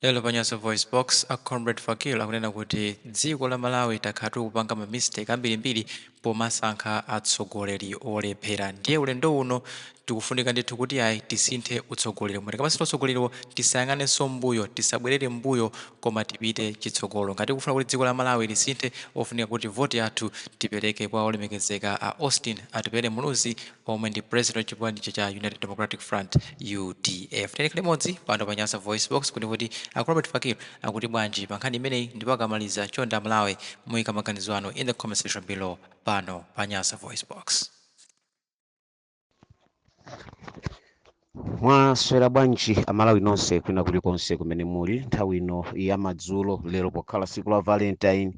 Lero pa Nyasa VoiceBox, a Comrade Fakir akunena kuti dziko la Malawi takhala tikupanga ma mistake ambirimbiri pomasankha atsogoleri olephera ndiye ulendo uno tikufunika ndithu kuti yayi tisinthe utsogoleri umo tikamasintha utsogoleriwo tisayang'anenso mbuyo tisabwerere mbuyo koma tipite chitsogolo ngati tikufuna kuti dziko la Malawi lisinthe ofunika kuti voti yathu tipereke kwa olemekezeka a Austin Atupele Muluzi omwe ndi president wa chipani cha cha united democratic front udf tiyeni tikhale limodzi pano pa nyasa voice box kodi kuti a robert fakir akuti bwanji pa nkhani imeneyi ndipo akamaliza chonde amalawi muike maganizo anu in the comment section below pano pa nyasa voice box Mwaswera bwanji amalawi nonse kwina kulikonse kumene muli nthawi ino ya madzulo lero pokhala tsiku la valentine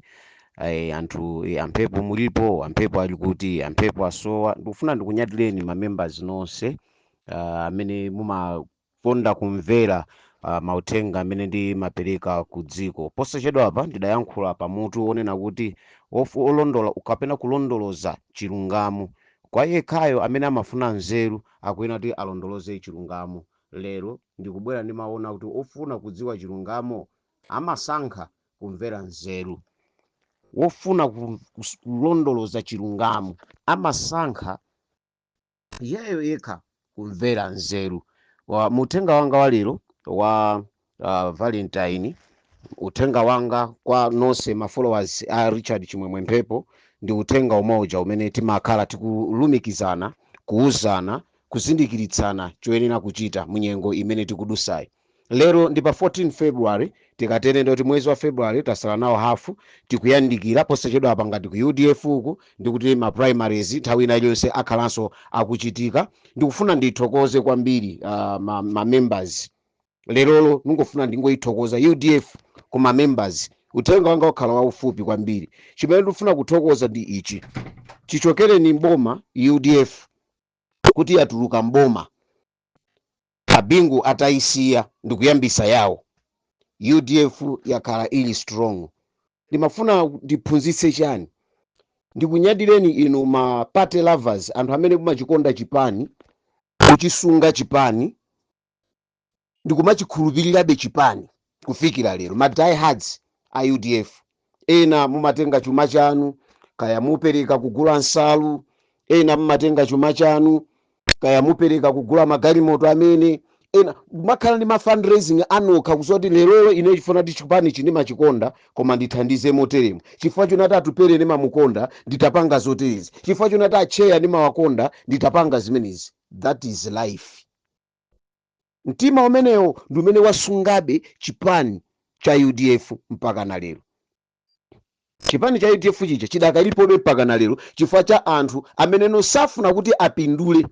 eh, anthu eh, a Mphepo mulipo a Mphepo ali kuti a Mphepo asowa ndikufuna ndikunyadireni ma members nonse ah, amene mumakonda kumvera ah, mauthenga amene ndimapereka ku dziko posachedwa apa ndidayankhula pa mutu wonena kuti ofu- olondola kapena kulondoloza chilungamo kwa yekhayo amene amafuna nzeru Akuyenera kuti alondoloze chilungamo. Lero ndikubwera ndi mawu onena kuti ofuna kudziwa chilungamo amasankha kumvera nzeru. Wofuna ku- kus- kulondoloza chilungamo amasankha iyeyo yekha kumvera nzeru. Wa- Mu uthenga wanga wa lero wa uh, valentine uthenga wanga kwa nonse ma followers a richard chimwemwe mphepo ndi uthenga umoja umene timakhala tikulumikizana kuuzana kuzindikiritsana choyenera kuchita munyengo imene tikudutsayi lero ndi pa 14 february tikatere ndoti mwezi wa february tatsala nawo hafu tikuyandikira posachedwa apa ngati ku udf uku ndikuti ma primaries nthawi ina iliyonse akhalanso akuchitika ndikufuna ndithokoze kwambiri uh, ma, ma members lerolo ndingofuna ndingoyithokoza udf ku ma members uthenga wanga ukhala waufupi kwambiri chimene ndikufuna kuthokoza ndi ichi chichokereni mboma udf kuti yatuluka mboma a Bingu atayisiya ndikuyambitsa yawo udf yakhala ili strong ndimafuna ndiphunzitse chani ndikunyadireni inu ma party lovers anthu amene mumachikonda chipani kuchisunga chipani ndikumachikhulupirirabe chipani kufikira lero ma diehards a udf ena mumatenga chuma chanu kaya mupereka kugula nsalu ena mumatenga chuma chanu kaya mupereka kugula magalimoto amene ena kumakhala ndi ma fundraising anokha kuzoti lerolo ine chifukwa choti chipani ichi ndimachikonda koma ndithandize moteremu chifukwa chonati atupele ndimamukonda nditha kupanga zoterezi chifukwa chonati atcheya ndimawakonda nditha kupanga zimenezi that is life mtima umenewo ndi umene wasungabe chipani cha udf mpaka na lero chipani cha udf chija chidakalipobe mpaka na lero chifukwa cha anthu amene osafuna kuti apindule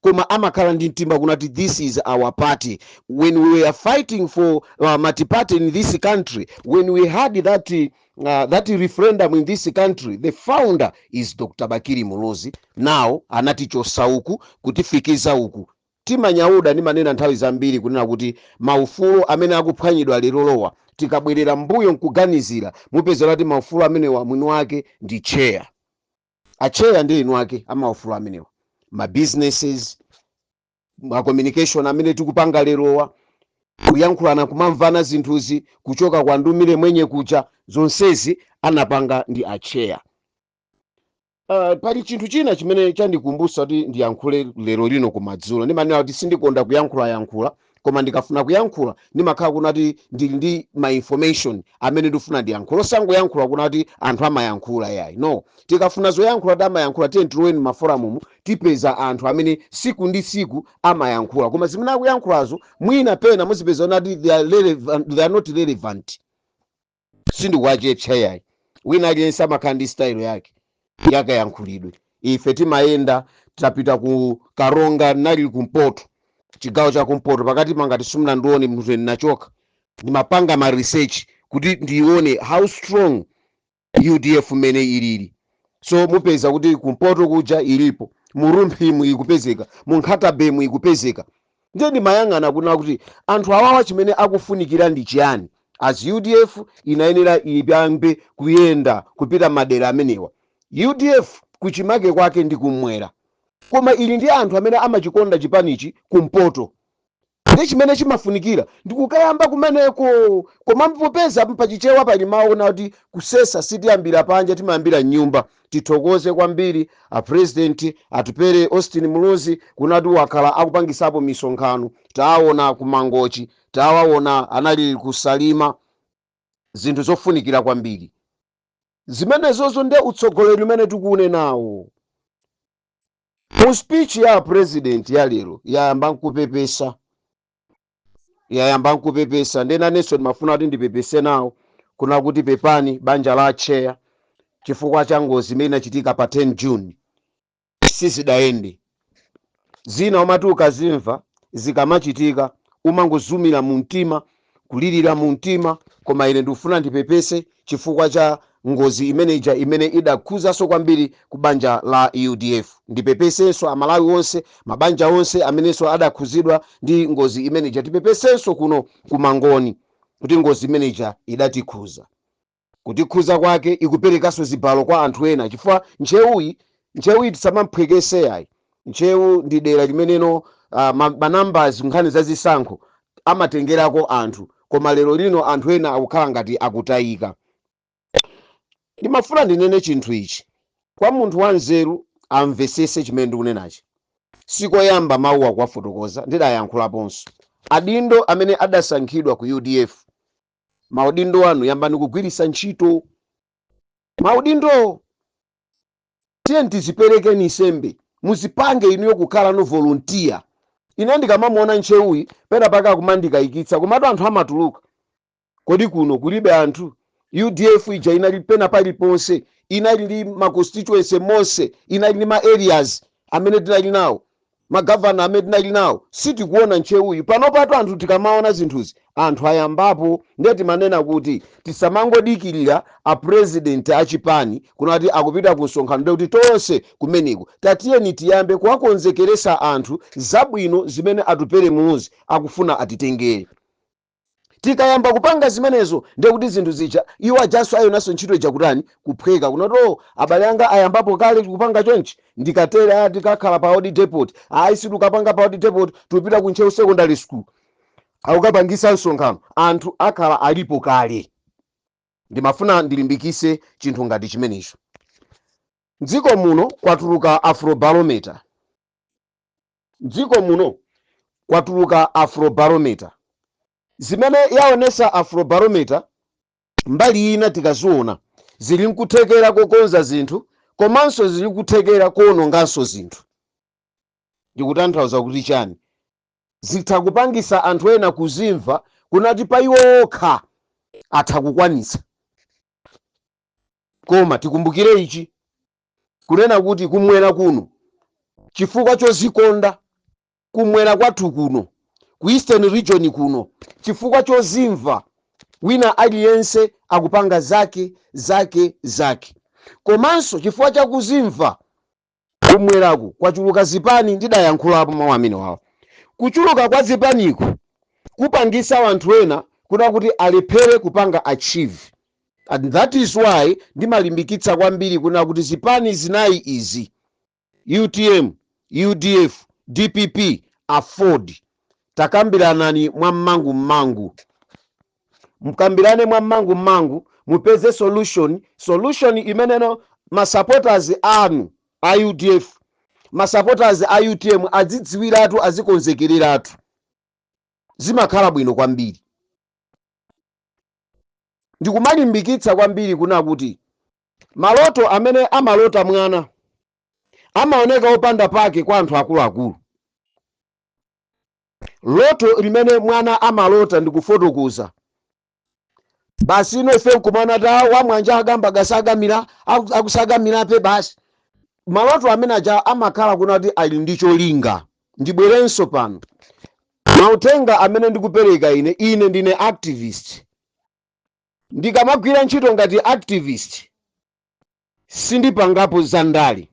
koma amakhala ndi mtima kuna kuti this is our party when we were fighting for uh, multiparty in this country when we had that uh, uh, that referendum in this country the founder is dr bakili muluzi nawo anatichotsa uku kutifikitsa uku timanyada ndimanena nthawi zambiri kunena kuti maufulu amene akuphwanyidwa lerowa tikabwerera mbuyo nkuganizira mupeza kuti maufulu amenewa mwini wake ndi chair acheya ndi mwini wake amaufulu amenewa ma businesses ma communication amene tikupanga lerowa kuyankhulana kumamvana zinthuzi kuchoka kwa ndumire mwenye kuja zonsezi anapanga ndi acheya Uh, pali chinthu china chimene chandikumbutsa kuti ndiyankhule lero lino kumadzulo ndimanena kuti sindikonda kuyankhula yankhula koma ndikafuna kuyankhula ndimakhala kuna kuti ndili ndi ma information amene ndifuna ndiyankhula osangoyankhula kuna kuti anthu amayankhula yayi no tikafuna zoyankhula kuti amayankhula tiye tiloweni m'maforamumu tipeza anthu amene siku ndi siku amayankhula koma zimene akuyankhulazo mwina pena muzipeza kuna kuti they are not relevant sindikuwachepetsa yayi wina aliyense amakhala ndi style yake yakayankhulidwe ife timayenda tapita ku karonga nali kumpoto chigawo cha kumpoto pakati kangati simunandione mzweni nachoka ndimapanga ma research kuti ndione how strong udf mmene ilili so mupeza kuti kumpoto kuja ilipo mu rumphimu ikupezeka mu nkhatabaymu ikupezeka ndiye ndimayang'ana kuna kuti anthu awawa chimene akufunikira ndi chiyani as udf inayenera iyambe kuyenda kupita madera amenewa udf kuchimake kwake ndi kumwera koma ili ndi anthu amene amachikonda chipanichi kumpoto Ndiye chimene chimafunikira ndi kukayamba kumeneko. Koma popeza pa Chichewa pali mawu onena kuti kusesa sitiyambira panja, timayambira m'nyumba, tithokoze kwambiri a President Atupele Austin Muluzi, kunena kuti wakhala akupangitsapo misonkhano. Tawaona ku Mangochi, tawaona anali ku Salima, zinthu zofunikira kwambiri zimenezozo. Ndiye utsogoleri umene tikuunenawo. mu speech ya apresident ya lero yayamba nkupepesa yayamba nkupepesa nde nanenso ndimafuna kuti ndipepese nawo kuna kuti pepani banja la atcheya chifukwa cha ngozi imene inachitika pa 10 june sizidayende zina umati ukazimva zikamachitika umangozizimira mu mtima kulirira mu mtima, koma ine ndikufuna ndipepese chifukwa cha ngozi imeneija imene idakhuzanso kwambiri ku banja la udf. Ndipepesenso amalawi onse, mabanja onse amenenso adakhuzidwa ndi ngozi imeneija. Tipepesenso kuno ku Mangoni kuti ngozi imeneija idatikhuza. kutikhuza kwake ikuperekanso zibalo kwa anthu ena chifukwa ntcheuyi ntcheuyi tisamamphwekese yayi ntcheu ndi dera limenenso uh, manambers nkhani za zisankho amatengerako anthu koma lero lino anthu ena akukhala ngati akutayika ndimafuna ndinene chinthu ichi kwa munthu wanzeru amvesese chimene ndikunenachi sikoyamba mawuwa kuwafotokoza ndidayankhulaponso adindo amene adasankhidwa ku udf maudindo anu yambani kugwiritsa ntchito maudindowo tiyeni tiziperekeni nsembe muzipange inuyo kukhalano volunteer ine ndikamamuona ntcheuyi pena pake akumandikayikitsa komatu anthu amatuluka kodi kuno kulibe anthu udf ija inali pena paliponse inali ndi ma constituency monse inali ndi ma areas amene tinali nawo ma governor amene tinali nawo sitikuona ntcheuyu panopatu anthu tikamaona zinthuzi anthu ayambapo ndiye timanena kuti tisamangodikilira a president a chipani kunati akupita ku msonkhano ndiye kuti tonse kumeneko tatiyeni tiyambe kuwakonzekeresa anthu zabwino zimene atupele muluzi akufuna atitengere tikayamba kupanga zimenezo ndiye kuti zinthu zija iwo ajanso ayonanso ntchito ija kutani kuphweka kunoti o abale anga ayambapo kale kupanga chonchi ndikatere a tikakhala pa odi depot ayi sitikapanga pa odi depot tikupita ku ntcheu secondary school akukapangisa msonkhano anthu akhala alipo kale ndimafuna ndilimbikise chinthu ngati chimenecho mdziko muno kwatuluka afrobarometer M'dziko muno kwatuluka Afrobarometer. Zimene yaonesa Afrobarometer mbali ina tikaziona zili nkuthekera kokonza zinthu komanso zili nkuthekera koononganso zinthu. Ndikutanthauza kuti chani? Zitha kupangisa anthu ena kuzimva kunati pa iwo okha atha kukwanitsa. Koma tikumbukire ichi, kunena kuti kumwera kuno chifukwa chozikonda kumwera kwathu kuno ku eastern region kuno chifukwa chozimva wina aliyense akupanga zake zake zake komanso chifukwa chakuzimva kumweraku kwachuluka zipani ndidayankhulapo mawu amenewawa kuchuluka kwa zipaniku kupangisa wanthu ena kunena kuti alephere kupanga achieve and that is why ndimalimbikitsa kwambiri kunena kuti zipani zinayi izi utm udf dpp aford takambiranani mwa mmangu mmangu mkambirane mwa mmangu mmangu mupeze solution solution imeneno masupporters anu a udf masupporters a utm azidziwiratu azikonzekereratu zimakhala bwino kwambiri ndikumalimbikitsa kwambiri kuna kuti maloto amene amalota mwana amaoneka opanda pake kwa anthu akuluakulu. Loto limene mwana amalota ndikufotokoza basi ino ife nkumana ta wamwanja agamba gasagamira aku- akusagamirape basi maloto amene aja amakhala kuna kuti ali ndi cholinga ndibwerenso pano Mauthenga amene ndikupereka ine, ine ndine activist. Ndikamagwira ntchito ngati activist, sindipangapo za ndale.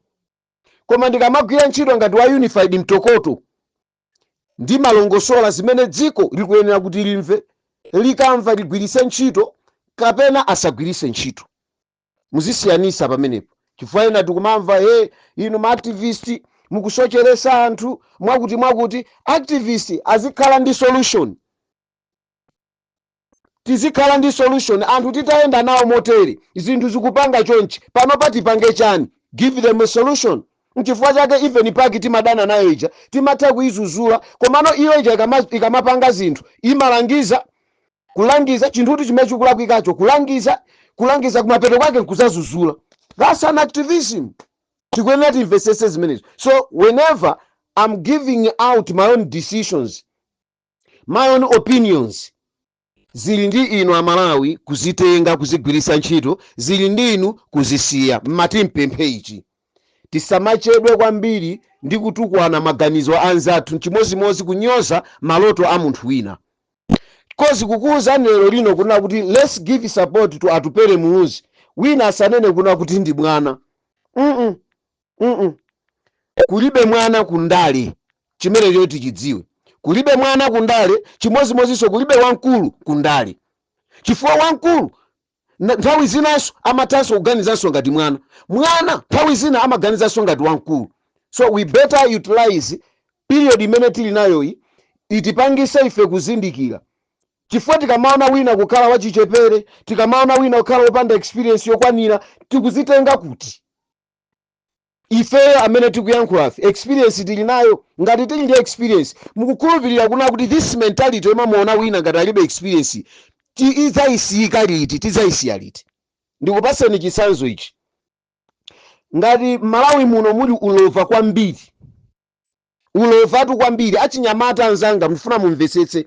Koma ndikamagwira ntchito ngati wa Unified Mtokoto, ndimalongosola zimene dziko likuyenera kuti limve, likamva ligwiritse ntchito kapena asagwiritse ntchito. muzisiyanisa pamenepo chifukwa ena tikumamva he inu ma activist mukusocheresa anthu mwakuti mwakuti activist azikhala ndi solution tizikhala ndi solution anthu titayenda nawo motere zinthu zikupanga chonchi panopa tipange chani give them a solution nchifukwa chake even PAC timadana nayo ija timatha kuizuzula komano iyo ija ikama- ikamapanga zinthu imalangiza Kulangiza, chinthutu chimene chikulakwikacho, kulangiza, kulangiza kumapeto kwake nkudzazuzula. That's an activism. Tikuyenera timvesese zimenezo. So whenever am giving out my own decisions, my own opinions, zili ndi inu amalawi kuzitenga kuzigwiritsa ntchito, zili ndi inu kuzisiya. Ndimati ndipemphe ichi. Tisamachedwe kwambiri ndi kutukwana maganizo anzathu, chimodzimodzi kunyoza maloto a munthu wina. coz kukuuzani lero lino kunena kuti lets give support to Atupele Muluzi wina asanene kunena kuti ndi mwana mm mm kulibe mwana ku ndale chimene choti tichidziwe kulibe mwana ku ndale chimodzimodzinso kulibe wamkulu ku ndale chifukwa wamkulu Nthawi zinanso amathanso kuganizanso ngati mwana. Mwana nthawi zina amaganizanso ngati wamkulu. So we better utilize period imene tili nayoyi itipangise ife kuzindikira chifukwa tikamaona wina kukhala wachichepere, tikamaona wina kukhala wopanda experience yokwanira, tikuzitenga kuti? ifeyo amene tikuyankhulafe experience tili nayo? ngati tili ndi experience mukukhulupilira kunena kuti this mentality yomamuona wina ngati alibe experience tidzayisiyika liti tidzayisiya liti ndikupaseni chitsanzo ichi ngati Malawi muno muli ulova kwambiri Ulovatu kwambiri. Achinyamata anzanga ndikufuna mumvetsetse.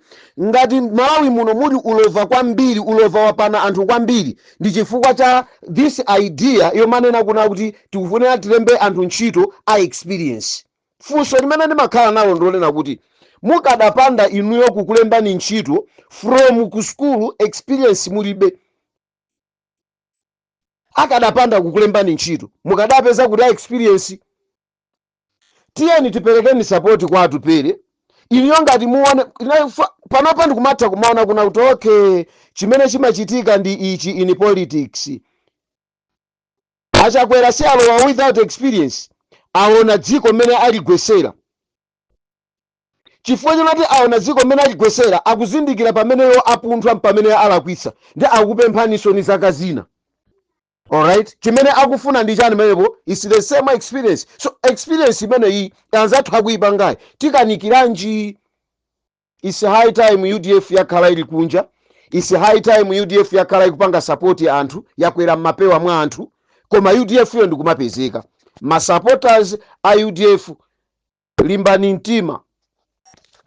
Ngati Malawi muno muli ulova kwambiri, ulova wapana anthu kwambiri ndi chifukwa cha this idea yomanena kunena kuti tikufunira tilembe anthu ntchito a experience. Funso limene ndimakhala nalo ndilonena kuti mukadapanda inuyo kukulembani ntchito from ku sukulu experience mulibe, akadapanda kukulembani ntchito mukadapeza kuti experience? tiyeni tiperekeni support kwa atupele ineyo ngati muone na- fa- panopa ndikumatha kumaona kunena kuti okay chimene chimachitika ndi ichi in politics a Chakwera si alowa without experience aona dziko mmene aligwesera chifukwa chonena kuti aona dziko mmene aligwesera akuzindikira pamene iwo apunthwa pamene alakwitsa ndiye akupemphaninso zaka zina alright chimene akufuna ndi chani pamenepo its the same experience so experience imeneyi anzathu akuyipangayi tikanikiranji its high time udf yakhala ili kunja its high time udf yakhala ikupanga support anthu yakwera mmapewa mwa anthu koma udf iyo ndikumapezeka masupporters a udf limbani mtima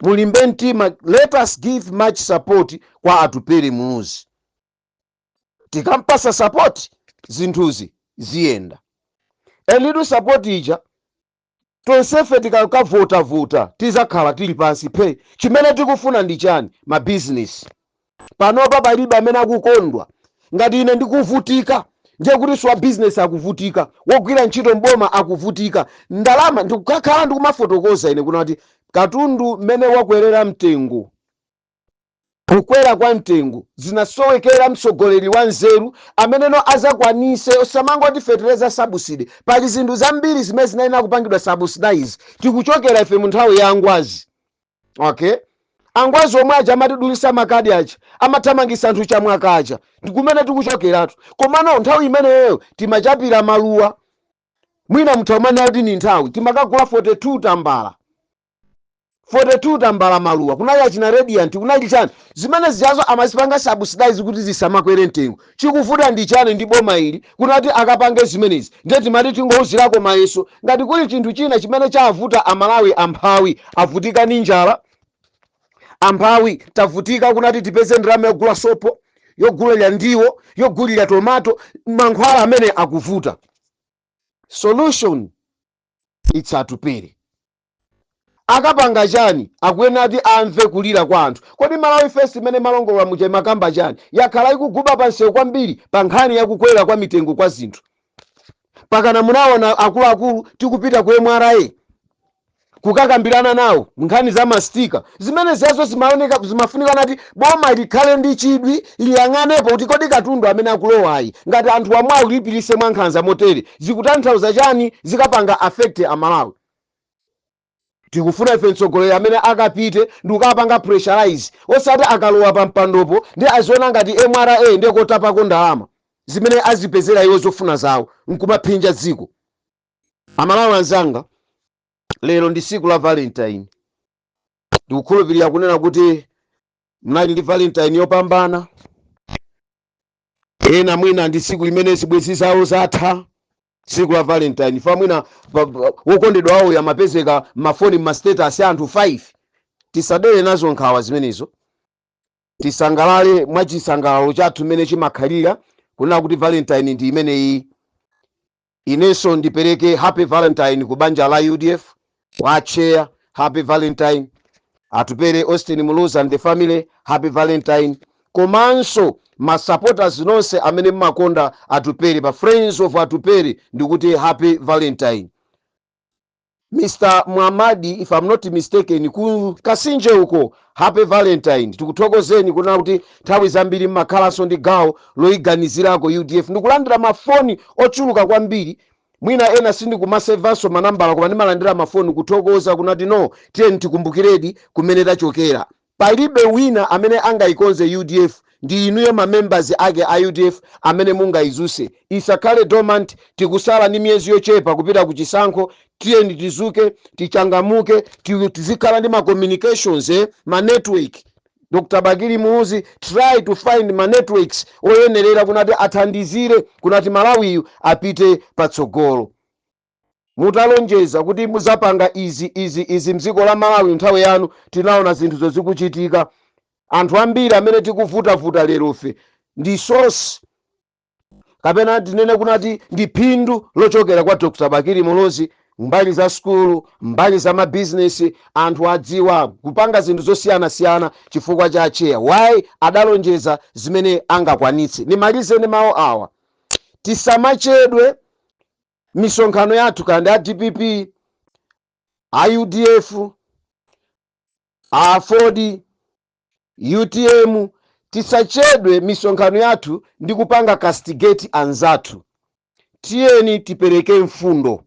mulimbe mtima let us give much support kwa atupele muluzi tikampasa support zinthuzi ziyenda a little support ija tonsefe tikakavotavota tizakhala tili pansi phe chimene tikufuna ndi chani mabizinesi panopa palibe amene akukondwa ngati ine ndikuvutika ndiye kuti wa bizinesi akuvutika wogwira ntchito mboma akuvutika ndalama ndikakhala ndikumafotokoza ine kunena kuti katundu mmene wakwerera mtengo Kukwera kwa mtengo zinasowekera mtsogoleri wa nzeru amene no azakwanise osamangoti fetereza subsidy pali zinthu zambiri zimene zinayenera kupangidwa subsidize tikuchokera ife munthawi ya angwazi ok angwazi omwe aja amatidulisa makadi aja amathamangisa anthu Chamwaka aja ndikumene tikuchokeratu komano nthawi imeneyo timachapira Maluwa mwina mutha kumanena kuti ndi nthawi timakagula 42 tambala 42 tambala maluwa kunali achina radiant kunali chani zimene zijazo amazipanga subsidize kuti zisamakwere mtengo chikuvuta ndi chani ndi boma ili kunati akapange zimenezi ndiye timati tingouzirako mayeso ngati kuli chinthu china chimene chavuta amalawi amphawi avutika ndi njala amphawi tavutika kunati tipeze ndalama yogula sopo yogulira ndiwo yogulira tomato mankhwala amene akuvuta solution it's atupele Akapanga chani? Akuyenera kuti amve kulira kwa anthu. Kodi Malawi First imene imalongolola muja imakamba chani? Yakhala ikuguba pa msewu kwambiri pa nkhani ya kukwera kwa mitengo kwa zinthu. Mpakana munaona akuluakulu tikupita ku mra kukakambirana nawo nkhani za ma sticker. Zimene zijazo zimaoneka, zimafunika nati boma likhale ndi chidwi liyang'anepo kuti kodi katundu amene akulowayi ngati anthuwa mwaulipiritse mwankhanza motere zikutanthauza chani, zikapanga affect Amalawi. Tikufuna ife mtsogoleri amene akapite ndikukapanga pressurize osati akalowa pa mpandopo ndiye aziona ngati mra ndiye kotapako ndalama zimene azipezera iwo zofuna zawo nkumaphinja dziko. Amalawi anzanga lero ndi siku la valentine ndikukhulupilira kunena kuti munali ndi valentine yopambana ena mwina ndi siku limene zibwenzi zawo zatha tsiku la valentine fa mwina wokondedwa wawo amapezeka mafoni mmastatus a anthu 5 tisadere nazo nkhawa zimenezo tisangalale mwa chisangalalo chathu mmene chimakhalira kunena kuti valentine ndi imeneyi inenso ndipereke happy valentine ku banja la udf kwa atcheya happy valentine atupele austin muluzi and the family happy valentine komanso masupporters nonse amene mmakonda atupele pa friends of atupele ndikuti happy valentine mr mwamadi if i'm not mistaken ku kasinje uko happy valentine tikuthokozeni kunena kuti nthawi zambiri mmakhalanso ndi gawo loyiganizirako udf ndikulandira mafoni ochuluka kwambiri Mwina ena sindikumasevanso manambala koma ndimalandira mafoni kuthokoza kunati no tiyeni tikumbukiredi kumene tachokera. Palibe wina amene angaikonze udf ndi inuyo ma members ake a udf amene mungaizuse. Isakhale dormant tikusala ndi miyezi yochepa kupita ku chisankho tiyeni tizuke tichangamuke tizikhala ndi ma communications ma network. Dr Bakili Muluzi try to find ma networks oyenerera kunati athandizire kunati Malawiyu apite patsogolo. Mutalonjeza kuti muzapanga izi, izi, izi mziko la Malawi mnthawi yanu tinaona zinthuzo zikuchitika. Anthu ambiri amene tikuvutavuta lerofe ndi source kapena tinene kunati ndi phindu lochokera kwa dr bakili muluzi mbali za sukulu mbali za mabizinesi anthu adziwa kupanga zinthu zosiyanasiyana chifukwa cha acheya why adalonjeza zimene angakwanitse ndimalize ndi mawu awa tisamachedwe misonkhano yathu kandi a dpp a udf a aford utm tisachedwe misonkhano yathu ndi kupanga castigate anzathu tiyeni tipereke mfundo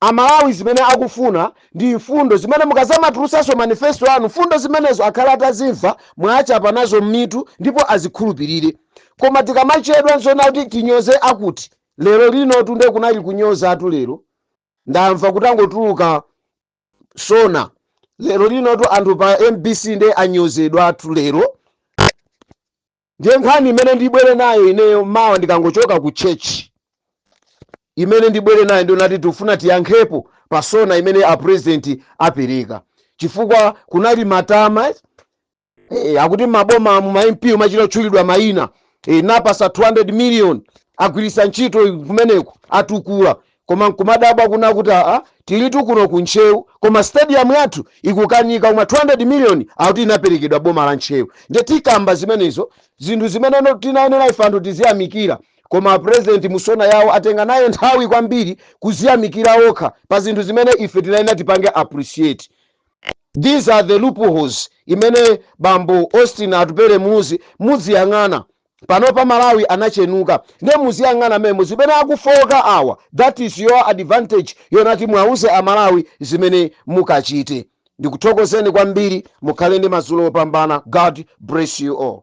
amalawi zimene akufuna ndi mfundo zimene mukazamatulusanso manifesto anu mfundo zimenezo akhale atazimva mwachapa nazo m'mitu ndipo azikhulupirire koma tikamachedwa ndi zonakuti tinyoze akuti lero linotu nde kunali kunyozatu lero ndamva kutangotuluka sona lero linotu anthu pa mbc nde anyozedwatu lero ndiye nkhani imene ndibwere nayo ineyo mawa ndikangochoka ku church imene ndibwere nayo ndi yonati tifuna tiyankhepo pa sona imene a president apereka chifukwa kunali matama e, akuti maboma umu ma mp amachita kutchulidwa mayina e, ndapatsa 200 million agwiritsa ntchito kumeneko atukula koma nkumadabwa kunena kuti aa tilitu kuno ku ntcheu koma stadium yathu ikukanika koma 200 million akuti inaperekedwa boma la ntcheu nde tikamba zimenezo zinthu zimene no- tinayenera ife anthu tiziyamikira koma apurezidenti mu sona yawo atenga nayo nthawi kwambiri kuziyamikira okha pa zinthu zimene ife tinayenera tipange appreciate These are the loopholes imene bambo Austin Atupele Muluzi mudziyang'ana. Panopa Malawi anatchenuka ndiye muziyang'ana momwemo zimene akufooka awa that is your advantage yonati muwauze a Malawi zimene mukachite. Ndikuthokozeni kwambiri mukhale ndi madzulo opambana God bless you all.